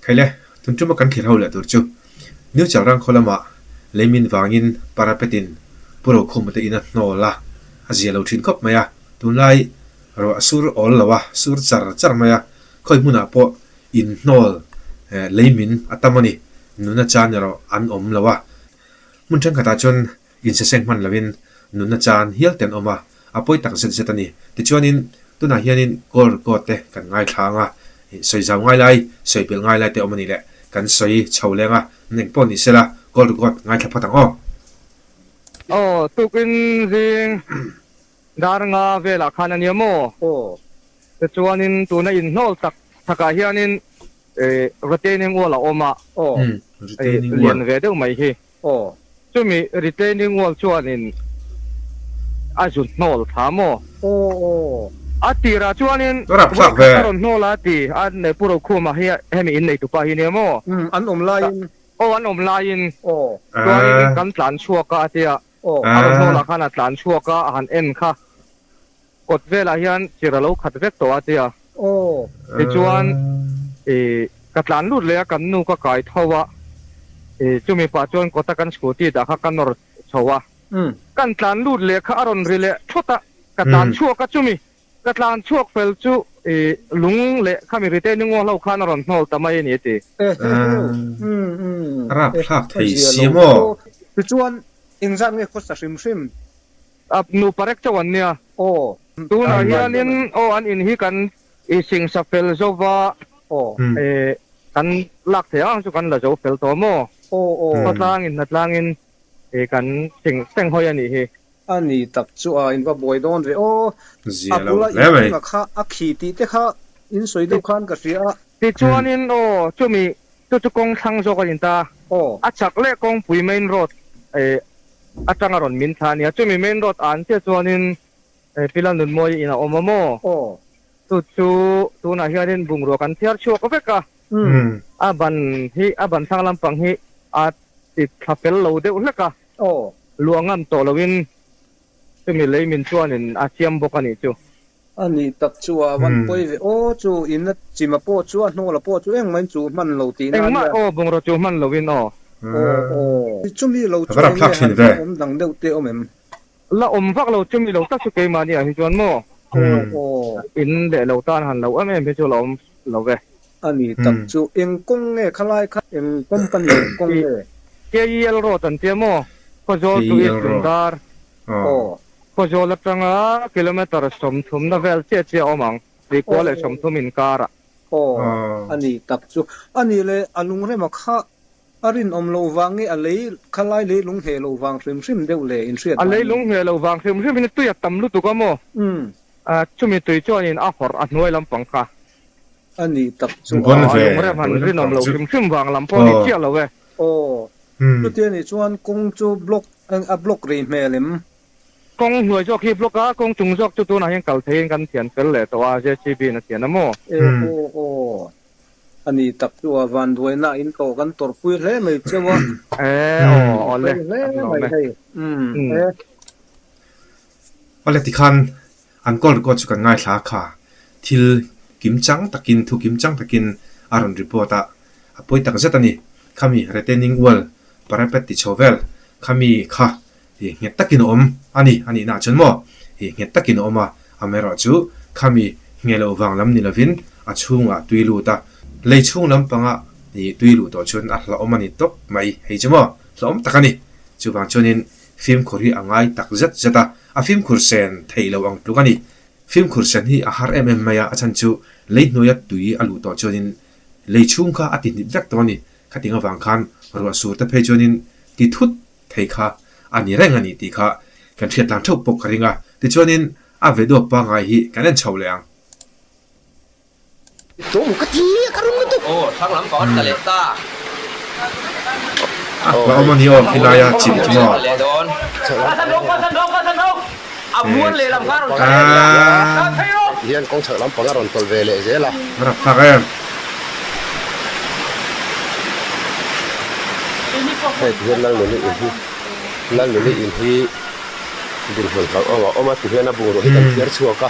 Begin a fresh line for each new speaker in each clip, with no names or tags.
Phele, tun tuma kan thlir ho leh tur chu New Chalrang khaw lama leimin vangin parapet in Pu Rokhum te in a hnawl a, a zia lo thin khawp mai a, tunlai ruah a sur awl lo a, sur char char mai a, khawi hmunah pawh in hnawl leimin a tam a ni, nuna chan erawh an awm lo a, hmun thenkhatah chuan Insiseng hman lovin nunna chan hial ten awm a, a pawi tak zet zet a ni. Tichuanin, tunah hianin gold coat te kan ngaithlang a, sawi zau ngai lai, sawi belh ngai lai te awm a nih leh, kan sawi chho leng a, eng pawh ni sela gold coat ngaithla phat ang aw. Aw, tukin
zing dar nga velah khan a nia maw? Aw. Tichuanin, tuna inhnawl tak takah hianin retaining wall a awm a, lian ve deuh mai hi. Aw, chumi retaining wall chuanin a zut hnawl tha maw? Aw aw, a tirah chuanin hei kha ka rawn
hnawl a ti
a nei pu ro khumah hi hemi in neitu pa hi nia maw? Umm, an awm laiin.
Aw, an awm laiin.
Aw. Chuanin kan tlan chhuak a a ti a. Aw. A rawn hnawl ah khan a tlan chhuak a, a han en kha. Kawt velah hian chirh a lo khat vek tawh a tia. Aw. Tichuan, i, ka tlan lut leh a kan nu ka kai tho a, i, chu mipa chuan kawt a kan scooty dah kha ka nawr chho a. Kan tlan lut leh kha a rawn ri leh thut a, ka tlan chhuak a chumi ka tlan chhuak fel chu, i, lung leh khami rite ni ngaw hlo khan a rawn hnawl ta mai a ni a ti.
Rap thlak thei si maw? Tichuan,
engzat nge khaw sa hrim hrim? Ap
nupa rek chauh an nia. Aw. Tunah hianin aw an in hi kan i singsa fel zo va. Aw. E. Kan lak thei ang chu kan la zo fel tawh maw? Aw aw. Khuatlangin hnatlangin e kan sing seng hawi a nih hi. A ni tak chu
a in va buai dawn ve aw. A bula
in hung a kha a khi tih
te kha in sawi deuh khan ka hria. Tichuanin
aw chumi chu chu kawng thlang zawk a ni ta. Aw. A chak leh kawngpui main road e. Atanga rawn min thla ania. Chumi main road an chiah chuanin Pila Nunmawii in a awm a maw? Chu chu tunah hianin bungrua kan thiar chhuak vek a. A ban hi, a ban thlang lampang hi a ti thla fel lo deuh hlek a. Luah ngam tawh loin chumi lei min chuanin a siam bawk a nih chu. A nih tak
chu a van pawi ve aw chu in a chim a pawh chu a hnaw la pawh chu engmah in chu hman lo tihna a nia. Engmah aw bungraw chu hman
lo in aw. Aw aw.
Chumi lo chu eng nge han hmu awm dang deuh te awm em? La awm
vak lo chumi lo tak chu keimahni ah hi chuan maw? Aw aw. In leh lo tan han lo em em hi chu la awm lo ve. A nih tak chu
eng kawng nge khalai kha eng company kawng nge? KEL road
an tia maw? Khaw zawl chu East Lungdar. Aw, Paw Zawl atanga kilometre sawmthumna vel chiah chiah a awm ang, Tihkual leh Sawmthum inkarah. Aw, a
ni tak chu. A ni le, a lungrema kha a rinawm lo vang nge a lei kha lai leilung hne lo vang hrim hrim deuh le inhriat A dahin? leilung hne lo vang
hrim hrim in tui a tam lutuk a maw? Umm. Chumi tui chuan in a hawrh a hnuai lampang kha. a nih
tak chu a a lung rem han
rin awm lo hrim hrim vang lam pawh a ni chiah lo e aw
chutia nih chuan kawng chu block a block rih hmel em? Kawng
hnuai zawk hi block a kawng chung zawk chu tunah hian kal thei in kan thian fel leh tawh a JCB in a thian a maw? Aw aw aw
a nih tak chu a vanduainah in tawh kan tawrh pui hle mai cheu a aw
aw le fel hle mai hei umm e.
Aw le tikhan. An call record chu kan ngaithla a kha thil kim chang takin thu kim chang takin a rawn report a, a pawi tak zet a ni. Khami retaining wall parapet ti chho vel khami kha hi nghet takin a awm a ni a nihnaah chuan maw hi nghet takin a awm a, amerawh chu khami ngei lo vang lam ni lovin a chhungah tui lut a, lei chhung lampanga tui luh tawh chuan a hlauhawm a ni tawp mai hei chu maw hlauhawm tak a ni. Chuvang chuanin Fimkhur hi a ngai tak zet zet a, a fimkhur sen thei lo ang tluk a ni. Fimkhur sen hi a har em em mai a, a chhan chu lei hnuaia tui a luh tawh chuanin lei chhung kha a ti hnit vek tawh a ni. Khating avang khan ruah sur te phei chuanin ti thut thei kha a ni reng a ni tih kha kan hriatlang theuh pawh ka ring a, tichuanin a ve dawp pangai hi kan en chho leh ang.
Tawmu ka ti a, ka rum lutuk. Aw, hrang lam pakhat ka leh ta.
Ka awm a ni aw, khilai a chim thung aw.
Ti hian kawng chhak lam panga rawn tawlh ve leh zel a. Ka rak thlak em. Hei, ti hian Lalnuni in hi, Lalnuni in hi dinhmun hlauh awm a awm a ti hian a bungrua hi kan thiar chhuak a.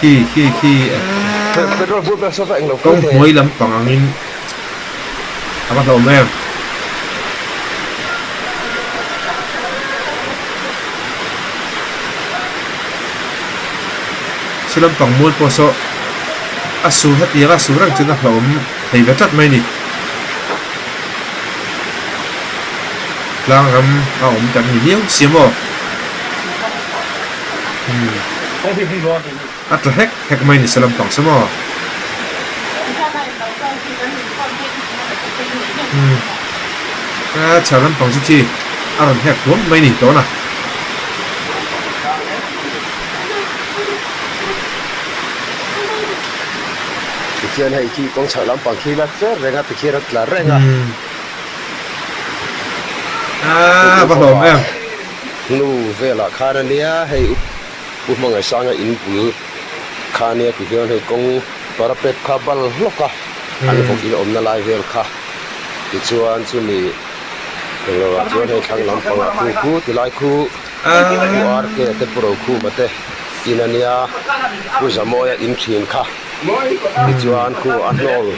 Khi
khi khi
Kawng hmuai lampang
angin a va hlawm em? Saw lampang mual pawh saw a sur hetianga a sur reng chuan a hlawm thei ve tlat mai a ni. Tlangram a awm tak a ni viau sia maw? A tla hek hek mai nise lampang se maw? Aa chhah lampang chu thi a rawn hek huam mai ni tawn a.
Pathian hei khi kawng chhak lampang khi lak cher reng a, Pathian a tla reng a. Aa
va hlawm em. Hnu
velah khan a nia hei u u hmangaih sanga in bul kha a nia tih hian hei kawng parapet kha bal hlawk a an vawk in awmna lai vel kha tichuan chumi engloah chuan hei thlang lampangah khu khu ti lai khu u ar ke te pu rokhuma te in a nia u zamawia in thin kha tichuan khu a hnawl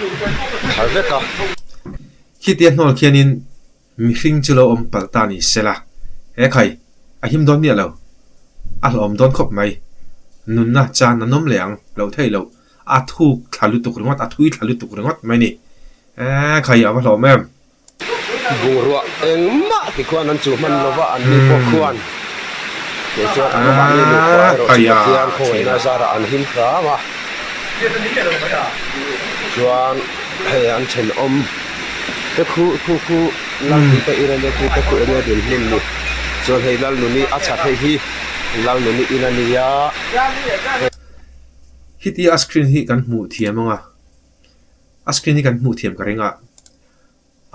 tha vek a.
Khitiah hnawl khianin Mihring chu lo awm palh ta ni sela, he khai a him dawn miah lo, a hlawm dawn khawp mai. Nunna chan an awm leh ang lo theih lo, a thuk thla lutuk ringawt, a thui thla lutuk ringawt mai ni. He khai a va hlawm em! Bungrua
engmah ti khuan an chuh hman lova an ni pawh khuan kei chuan an mahni nupa erawh chu Pathian khawngeinah zarah an him tlang a, chuan hei an thenawm. Ka khu khu khu Lalnu ka ina nia khi ka kut ania din hmun ni chuan hei Lalnu ni a chhat hei hi Lalnu ni ina nia he
Hitia a screen hi kan hmuh thiam anga a screen hi kan hmuh thiam ka ringa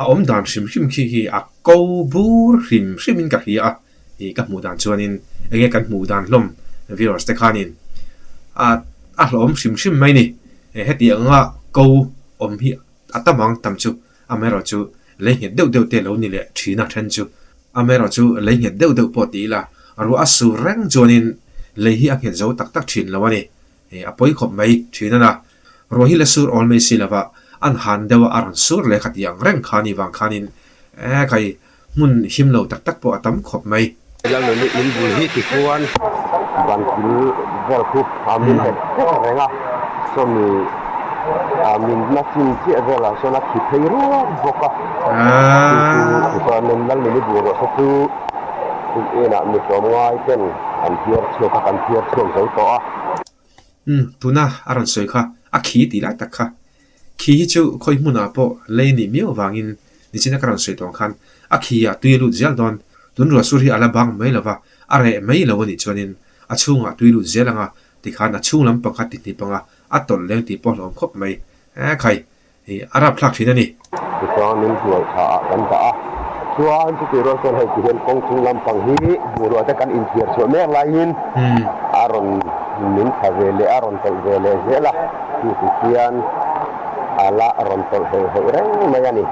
a awm dan hrim hrim khi khi a ko bur hrim hrim in ka hria a ih ka hmuh dan chuan in enge kan hmuh dan hlawm viewers te khan in a a hlawm hrim hrim mai ni hetiang anga ko awm hi A tam ang tam chu amerawh chu lei nghet deuh deuh te lo ni leh thin a then chu amerawh chu lei nghet deuh deuh pawh ti ila ruah a sur reng chuanin lei hi a nghet zo tak tak thin lo a ni. A pawi khawp mai thin a la. Ruah hi la sur awl mai si lova an han deuha a rawn sur leh kha ti ang reng kha ni vang khanin ekai Hmun him lo tak tak pawh a tam khawp mai. In bul
hi ti chuan ban thil vel khu min let vet a reng a, chumi min hma chin chiah velah chuan a thi phei ruap bawk a. Chu chu Nun Lalmin i bul ruahse chu tun enah mi tlawm ngai ten kan phiar chhuak kha kan phiar chhuak zo tawh a.
Tuna a rawn sawi kha a khi ti lai tak kha Khi hi chu khawi hmunah pawh lei ni miau vangin nichina ka rawn sawi tawng khan a khi ah tui a lut zial dawn. Tun ruah sur hi a la bang mai lova, a reh mai lo a nih chuanin a chhungah tui lut zial ang a, tikhan a chhung lampang kha tihnip anga a tawlh leng tih pawh hlawm khawp mai. Ae khai hi a rap thlak thin a ni. Tichuan min
hnuai thla ah kan dah a, chuan chutih rual chuan hei ti hian kawng chhung lampang hi bungrua te kan inthiar chhuah mek laiin a rawn min tha ve leh a rawn tawlh ve leh zel a. Tih ti chuan a la rawn tawlh heuh heuh reng mai a ni.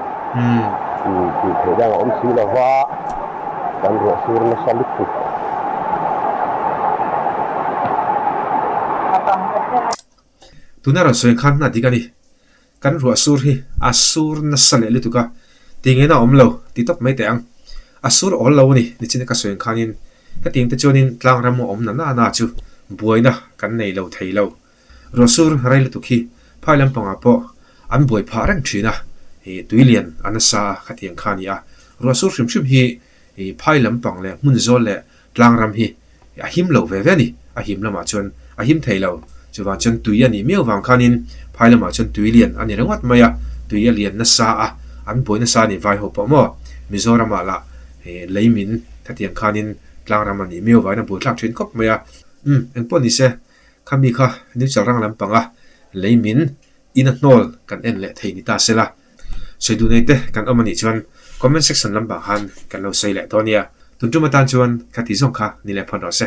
Tih tih theih dang a awm si lo va, kan ruahsur nasa lutuk.
Tuna rawn sawi khan hna dik a ni. Kan ruahsur hi a sur nasa leh lutuk a, ti ngena a awm lo ti tawp mai teh ang. A sur awl lo a ni, nichin ka sawi khanin hetiang te chuanin tlangram a awm nana chu buaina kan nei lo thei lo. Ruahsur rei lutuk hi phai lampangah pawh an buai phah reng thin a, tui lian a nasa a, khatiang kha a ni a. Ruahsur hrim hrim hi phai lampang leh hmun zawl leh tlangram hi a him lo ve ve a ni. A him lamah chuan a him thei lo, chuvang chuan tui a nih miau vang khanin phai lamah chuan tui lian a ni ringawt mai a, tui a lian nasa a, an buai nasa a ni vai ho pawh maw. Mizoramah lah lei min khatiang khanin tlangram a nih miau vain a buaithlak thin khawp mai a. Umm, engpawh ni se, Khami kha New Chalrang lampanga lei min in a hnawl kan en leh thei ni ta sela, sawi duh nei te kan awm a nih chuan comment section lampang khan kan lo sawi leh dawn nia, tun tum atan chuan ka ti zawng kha ni leh phawn rawh se.